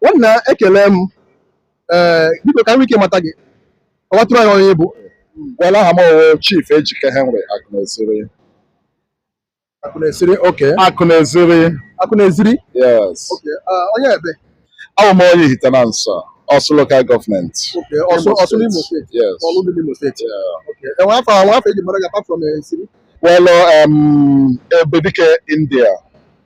nwanna ekele m ee biko ka e nwee ike mata gị kọwatụrụ anyị onye ị bụ Well, aha m wụ Chief Ejike Henry Akụneziri. Akụneziri oke Akụneziri, Akụneziri yes. oke ah, onye ebe Abụ m onye Ihitenansa, Ọsụ Local Government. oke ọsụ Imo ọsụ n'imo State. steeti Yes. ọlụ dị n'imo steeti Yeah. oke enwe afa enwe afa eji mara gị apart from Eziri Well, um, Ebedike India.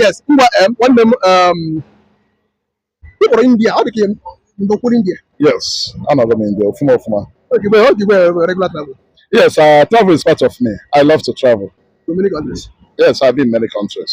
yes ngwa nwanne m ị kpọrọ india ọ dị ka ị nọkwuru india yes anọgo m india ọfụma ọfụma yes uh, travel is part of me i love to travel yes i've been many countries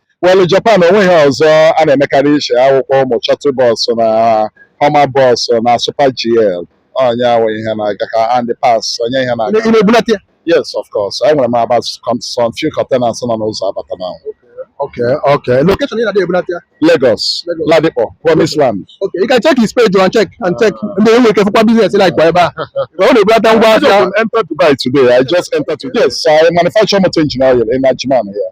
Well, Japan onweghị ọzọ a na-emekarị iche akwụkwọ ụmụ shuttle bus na Hummer bus na Super GL onye ahụ ihe na-aga ka and parts onye ihe na-aga ị na-ebulata ya yes of course enwere m about some few containers nọ n'ụzọ abata na Okay, okay. Location ị na-adị ebulata ya Lagos Lagos. Ladipo Promise Land Okay, you can check his page and check and check ndị enwe ike fụkwa business like kwa ebe a ọ na-ebulata ngwa ahịa I just entered Dubai today I just entered today yes I manufacture motor engine oil in Ajman here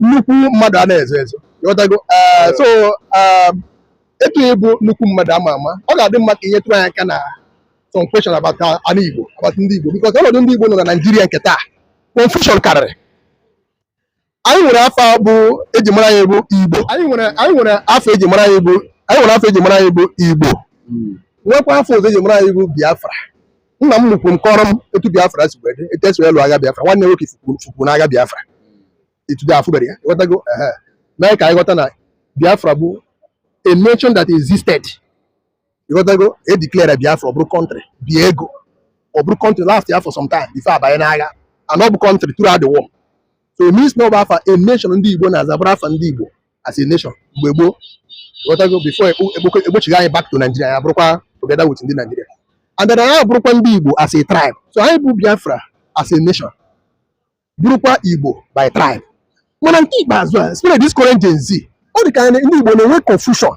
nnukwu mmadụ a na-ezo ezo ịghọtago eh, so um, etu ị bụ nnukwu mmadụ ama ama ọ ga-adị mma ka ị nyetụrụ anyị aka na some question about ana Igbo about ndị Igbo because ọnọdụ ndị Igbo nọ na Naịjirịa nke taa confusion karịrị anyị nwere afa bụ eji mara anyị bụ Igbo anyị nwere anyị nwere afa eji mara anyị bụ anyị nwere afa eji mara anyị bụ Igbo nwekwa afa ọzọ eji mara anyị bụ Biafra nna m nnukwu m kọrọ m etu biafra si wee dị etu esi wee lụọ agha biafra nwanne nwoke fukwu n'agha biafra till date afụberọ ya ghọtago mee ka anyị ghọta na biafra bụ a nation that existed ịghọtago e declare biafra ọ bụrụ country bie ego ọ bụrụ country lastịa for some time before a banye n'agha and ọ bụ country throughout the war so it means na ọ bụ afa a nation ndị igbo na-aza bụrụ afa ndị igbo as a nation mgbe gboo ghọtago before a kpọchigha anyị back to Nigeria anyị abụrụkwa together with ndị Nigeria and then anyị abụrụkwa ndị Igbo as a tribe so anyị bụ Biafra as a nation bụrụkwa Igbo by tribe mana nke ikpeazụ a especially this current Gen Z ọ dị ka ndị Igbo na-enwe confusion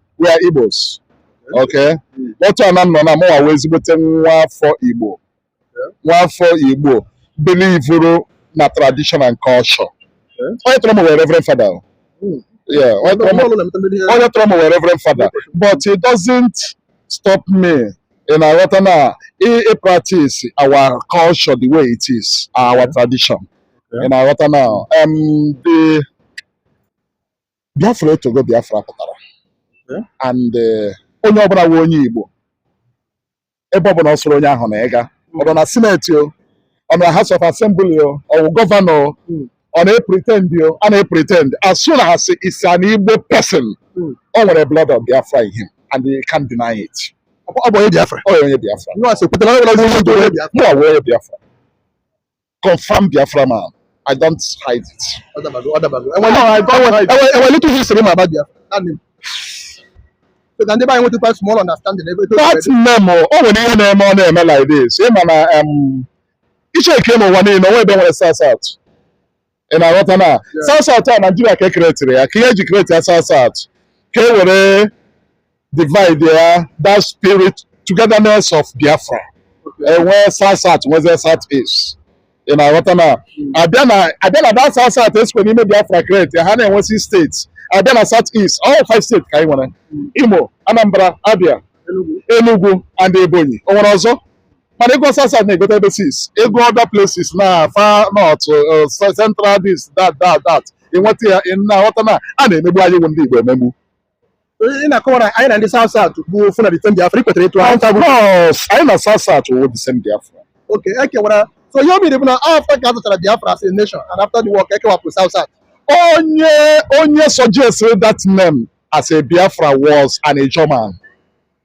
we are Igbos okay otu ana m nọ na mụnwa wụ ezigbote nwa afọ Igbo nwa afọ Igbo belivuru na tradition and culture onye tọrọ m wụ reverend father hmm. onye tọrọ m wụ reverend father but it doesn't stop me ị na-aghọta na ị practice our culture the way it is our tradition ị na-aghọta na um, the Biafra etogo Biafra pụtara eh? and eh, onye ọbụla wụ onye Igbo ebe ọbụla ọ sọrọ onye ahụ na ịga ọ nọ na Senate o ọ nọ na House of Assembly o ọ bụ gọvanọ o hmm. ọ na-epretend o a na-epretend as soon as he's an Igbo person hmm. o nwere blood of Biafra in him and he can't deny it. ọ bụ onye Biafra. ọ bụ onye Biafra. mụ ọwụ onye Biafra. confam Biafra man. I don't hide it. Enwere little history about Biafra. That name. So ka ndị be anyị nwetụkwa small understanding ebe eto that name o, o nwere ihe na-eme ọ na-eme like this. Ị ma na em, ị checkie n'ụwa niile, o nweghị ebe e nwere South South. Ị na-aghọta na South South a Naijiria ka e creatiri ya, ka ihe eji create ya South South. Ka e were divide ya that spirit togetherness of Biafra enwee south south nwezie south east ị na-aghọta na abịa na abịa na that south south esikwa n'ime Biafra create ha na-enwe six states abịa na south east all five states ka anyị nwere Imo Anambra Abia Enugu and Ebonyi o nwere ọzọ mana ịgụ south south na-agụte ebe six ịgụ other places na far north uh, central this that that that ị nweta ya ị na-aghọta na a na-emegbu anyị bụ ndị Igbo emegbu ị na-akọwa na anyị na ndị South South bụ ofu na the same Biafra ị kwetara etu ahụ Of course, anyị na South South wụ the same Biafra. oke ekewara so ihe o mere bụ na after ka a zụchara Biafra as a nation and after the war ka ekewapụ South South Onye onye suggested that name as a Biafra was an Ijaw man.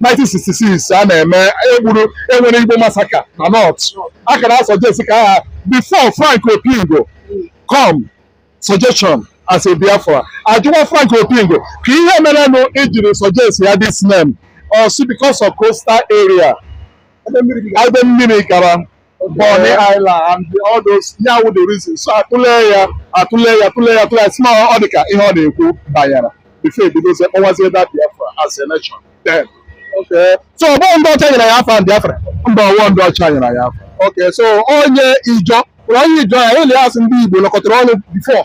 1966 a na-eme egburu enwere Igbo massacre na North a ka na-asuggest ka aha before Frank Opingo come suggestion as a Biafra ajụwa Frank Opingo ka ihe merenụ i jiri suggest ya this name ọ sị because of coastal area ebe mmiri gara Bonny Island and the- all those ya wụ the reason so atụle ya atụle ya atụle ya atụle ya si na ọ dị ka ihe ọ na-ekwu banyere before ebidozie kpọwazie that Biafra as a nation then Okay. So ọ bụghị ndị ọcha nyere ya afa ahụ Biafra. mba ọ wụghị ndị ọcha nyere ya afa ahụ Okay, so onye Ijaw, onye Ijaw ya ele ya asị ndị Igbo nọkọtara ọnụ before.